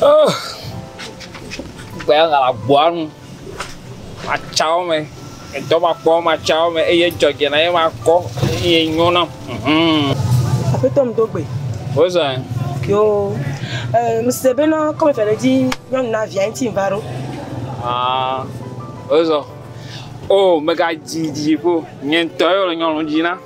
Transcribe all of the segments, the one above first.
Oh! Gbe ya gala gbɔa nu. Matsawo me. Edɔ makpɔ matsawo me eye dzɔdze na ye makɔ eye nyo na. Mhm. Aƒetɔ mi do gbe. Wozã. Yo. Eh, mi se be na kɔmi fɛ le dzi nyɔnu na via ŋuti va ɖo. Ah. Wozɔ. Oh, mega dzi dzi ƒo. Nye ŋutɔ ye le nyɔnu dzi na.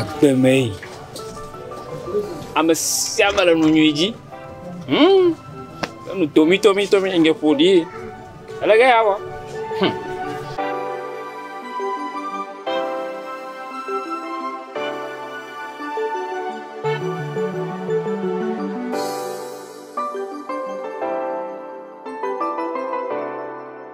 Agbe mee. Ame sia ame le nu nyui dzi. Humm. Enu tomitomitɔmi ŋkɛ ƒo ɖi. Ele ge ya wɔ. Humm.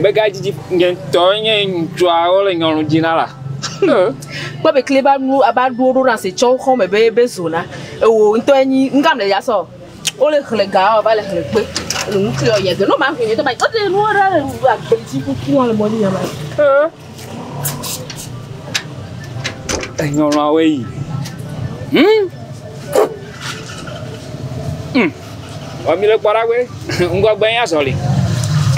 Megadzidzi nye ŋutɔ nye ŋutsua wole nyɔnu dzi na la. Kpɔ be kle ba nu aba ɖo ɖo na se tsɔ xɔ me be be zona. Ewo ŋutɔ enyi ŋgam le ya sɔ. Wole xle ga o va le xle kpe. Enu kle o ya de no ma ŋgbe nye tɔ ba. Ode nu ara le agbe dzi kuku ale mɔ ni ya ma. Enyɔnɔawoe yi. Humm. Humm. Vɔ mì le kpɔ ɖa be ŋgɔgbe ye nye azɔli.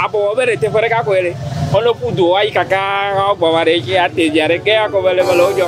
Abɔ wɔ be ɖe teƒe ɖeka koe ɖe. Alo ƒu du woayi kakaa woawo gbɔ va ɖe ŋtsi ate via ɖe. Ke akɔ be le mele wo dzɔ.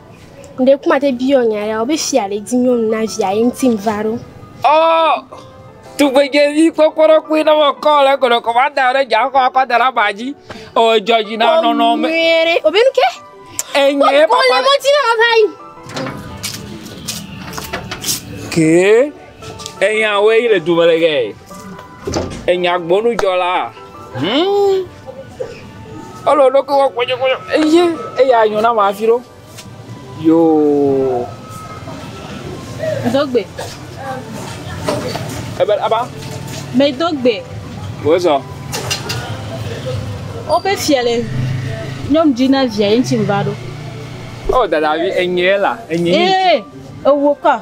Ɖe kuma te biɔ nya ya be fia ɖe di nyɔnu na via ye ŋuti va ɖo. Ɔ tugbedzevi kpɔkpɔɖɔkpui ne mekɔ le gɔdɔ kɔ va da ɖe dzaxɔ akɔ da ɖe aba dzi. O dzɔ dzi na nɔnɔ me. Nyuie o be nu ke. Enye papa. O le mɔ dzi na va yi. Ke. Enyawoe le dome le ɣee. Enyagbɔnudzɔlaa, huumm, ele wo ɖokui wɔm kpɔtsɔkpɔtsɔ. Eyé, eya nyo na ame hafi ɖo. Yoo. Dogbe. Ebe aba. Me dogbe. Wo zɔ. Woƒe fia le nyɔnu dzi na via ye ŋuti va ɖo. Oh dadavi, enyee la, enyee. Eee, ewo ka.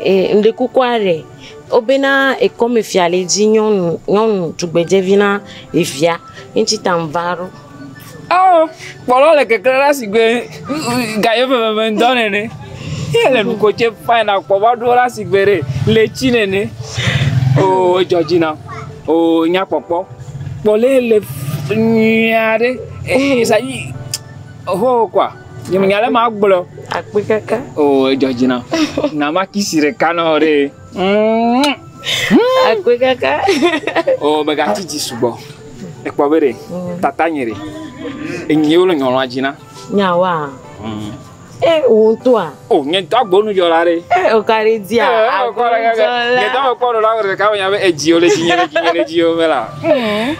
E, ŋɖe kukua ɖe, wobena ekɔmefia le dzi nyɔnu, nyɔnu tugbedzevi na evia. Eŋti ta ŋva ɖo. Ao, kpɔlɔ le keklẽ ɖa sigbe gaye veveve ŋdɔ nene. Ye le nuko tse fine na kpɔ va ɖo ɖa sigbe ɖe le tsi nene. Oo, edzɔ dzi nam. Oo, nya kpɔkpɔ. Kpɔlɛ le nyuia ɖe. Ee, sa yi, ohoo kɔa. Nye me nya le ma gblɔ. Akpi keke. Oh, ejo jina. Na ma kisi re kano re. Mm. Akpi keke. Oh, be ga titi subo. Ekpo be re. Mm. Tata nye re. Enye wolo nyolo ajina. Nya wa. Mm. Eh, wo to a. Oh, nye to agbo nu jola re. Eh, o kare dia. Eh, o kare. Nye to agbo nu jola re. Ka wo nya be eji o le ji nye le ji nye le ji o mela. Mm.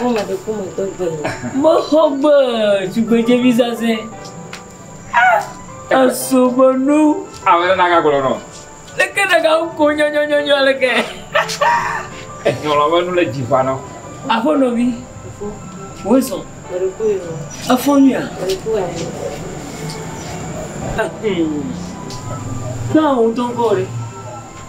Ŋu me ɖe ƒome dɔ gbe le. Mexɔ gbe tugbedzevi zazɛ. Esu be nu. Ame ɖe naga gblɔ nɔ. Leke ɖeka ko nyɔnyɔnyɔnyɔ leke. Enyɔlɔ be nu le dzi va nɔ. Aƒo nɔvi. Wo zɔ. Efo nyuia. Naa wo dɔn kɔ re.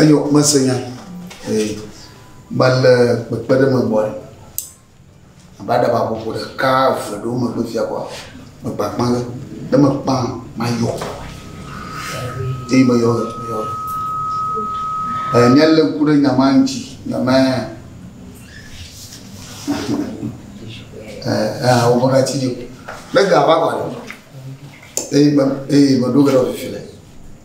Eyɔ mese nya ee mele kpekpeɖeŋ me gbɔe abe aɖaba ƒoƒo ɖeka eve ɖewo megbe fia koa mekpɔ akpa ge ne mekpɔ mayɔ eye meyɔ ʋe meyɔ ʋe ee ne lé ŋku ɖe nya ma ŋuti nya ma ee ee wovɔ ɖe ati dzi o ne ga va koa eye me eye meɖo ge ɖe wòfifi le.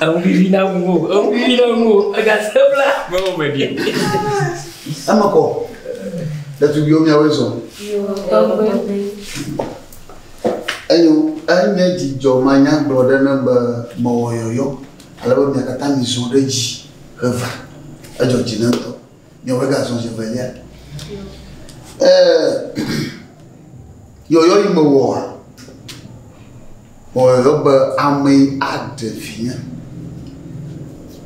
Eŋu vivi na ŋu o, eŋu vivi na ŋu o, ega se bla. Mewɔ me ɖi. Eme kɔ. Ɖetugbiwo miawoe zɔ. Eyo enye dzidzɔ manyagblɔ ɖe ne be mewɔ yɔyɔ ale be mia katã mizɔ ɖe dzi heva. Edzɔ dzi ne ŋutɔ. Nyɔvia gazɔ zi evelia. Yɔyɔ yi mewɔa, wɔyɔyɔ be ame aɖe vinye.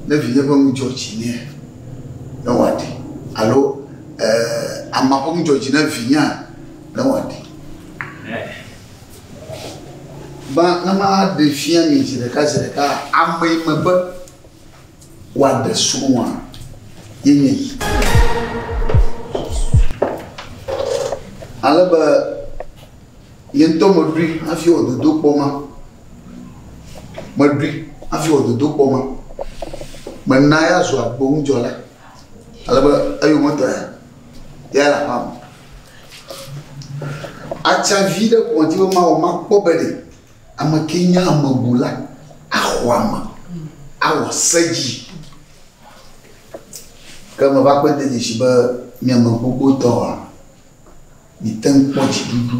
Ne vinye ƒe nu dzɔ dzi nɛ, ne wòaɖi. Alo ama ƒe nu dzɔ dzi ne vinyea, ne wòaɖi. Ba, ne maɖe fia mi zi ɖeka zi ɖeka, ame yi me be, Woaɖe srɔ̃a yenye yi. Ale be nye ŋutɔ meɖui hafi wɔ dodokpɔ ma. Meɖui hafi wɔ dodokpɔ ma. Mena ya zu agbonudzɔla. Ale be eyometɔ ya, ya le aƒea me. Atsa vi ɖe ƒo ŋuti be mawɔ makpɔ be ɖe. Ame ke nya ame bu la, axɔ ame, awɔ se dzi. Ke meva kpe de dzesi be mi ame gbogbo tɔa, miete ŋu kpɔ dziɖuɖu.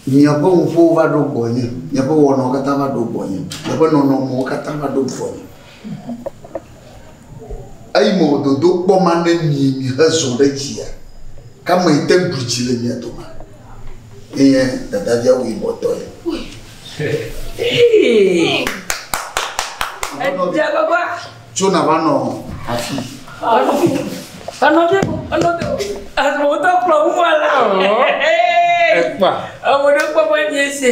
Miaƒe ŋuƒowo va ɖo gbɔnye, miaƒe wɔnawo katã va ɖo gbɔnye, miaƒe nɔnɔmewo katã va ɖo gbɔnye. Eyi me wòdodo kpɔ ma ne mi mihezɔ ɖe dzia? Ka me yi te ɖu dzi le mia doma? Enye dadavia wui bɔ tɔ ye. Tso na va nɔ afi. Anɔ bɛ o, anɔ bɛ o. Azɔ o tɔ kplɔ ŋu ala o. Ekpa. Ewɔ ɖe kpɔ bɔ nye se.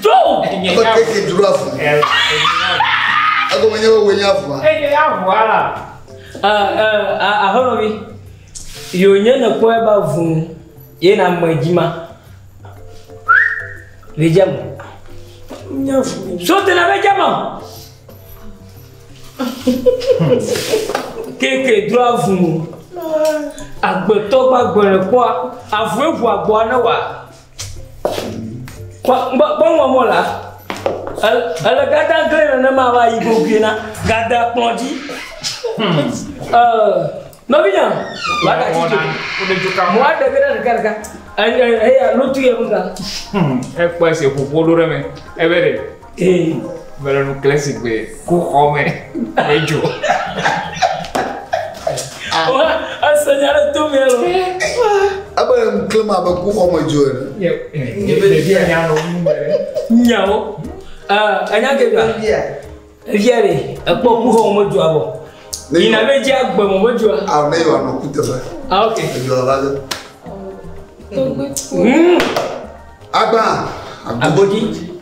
Tso nye nya. Ebe keke dro avu. Egome nye be wòe nye avua. Eye nye avua. Ahlɔ̃vi, yewo nye nekpɔe be avu ye na ame dzi ma. Le dzi ama. Nye avu. So te na be dzi ama. Keke dro avu. Agbetɔ gbagbe le kpɔa. Avu eŋu agboa ne wa. Gbɔngbɔnmɔ la, ele gada gblẽ nenema va yi gogoe na gada kplɔ dzi. Nɔvinya, va ka ci dzi. Mo aɖe ge ɖe ɖeka ɖeka. Eya lotu yɛ nuka. Ekpɔ ese ƒoƒo ɖo ɖe me. Ebe ɖe. Eyi mele nu kle si gbe ku xɔ me me dzo. Ese nya ɖe to mɛ lo. Ebe nu kle ma be ku xɔ me dzo ene. Ɖevia nya nɔ nu me. Nyawo. Enya ke gbe. Evia ɖe ekpɔ ku xɔ me dzo abɔ. Yina be dzi agbe mo me dzo. Aw ne yɔ anɔ ku teƒe. Ah ok. Dzo la de. Agba. Agodi.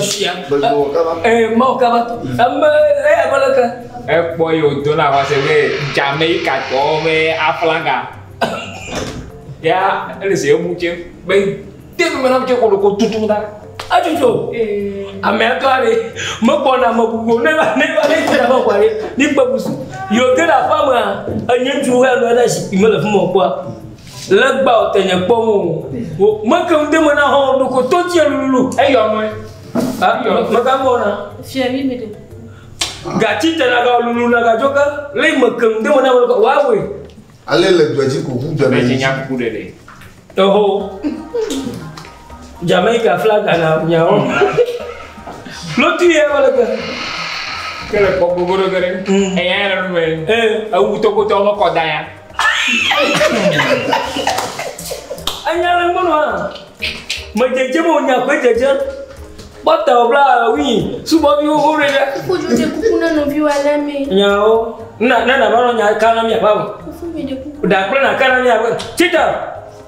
Sia. Ee, Mawu kaba to. Ame eya ƒe leke. Ekpɔ yi wòdo na xɔase be Jamaikatɔwo ƒe aflaga. Ya ele se eŋu tse be te nu me na tse kolo ko tutu na. Atutu. Ame atɔ ale megbɔna me bubu ne va ne va ne te na me kɔ ale mi kpe busu. Yo te na fa me a enye ŋutsu wo ya nɔ na zikpui me le fi me kpɔa. Legba o tenye kpɔm o. Wo meke ŋde me na hɔn ɖoko to tie lulu. Eyɔ mɔe. Ha yɔ mega gbɔ na. Fia mi mi de. Gachi te na ga lulu na ga joka. Le me ke ŋde me na me wa we. Ale le dɔji ko hu dɔ ne. Nya ku de de. Eho. Jamaica flag na nya o. Lotu ye wala ke. Kele kpɔ gogo do gere. Eya ya na me. Eh, awu to ko to ko da ya. Anya le mɔnu a. Me dzedze mo nya gbe dzedze. Bɔta o bla wi subɔ bi wo re ɖe. Ku ju de kuku na no bi wa le me. Nyawo. Na na na ba no nya ka na mi ba. Kufu mi de kuku. Da kple na ka na mi ba. Chita.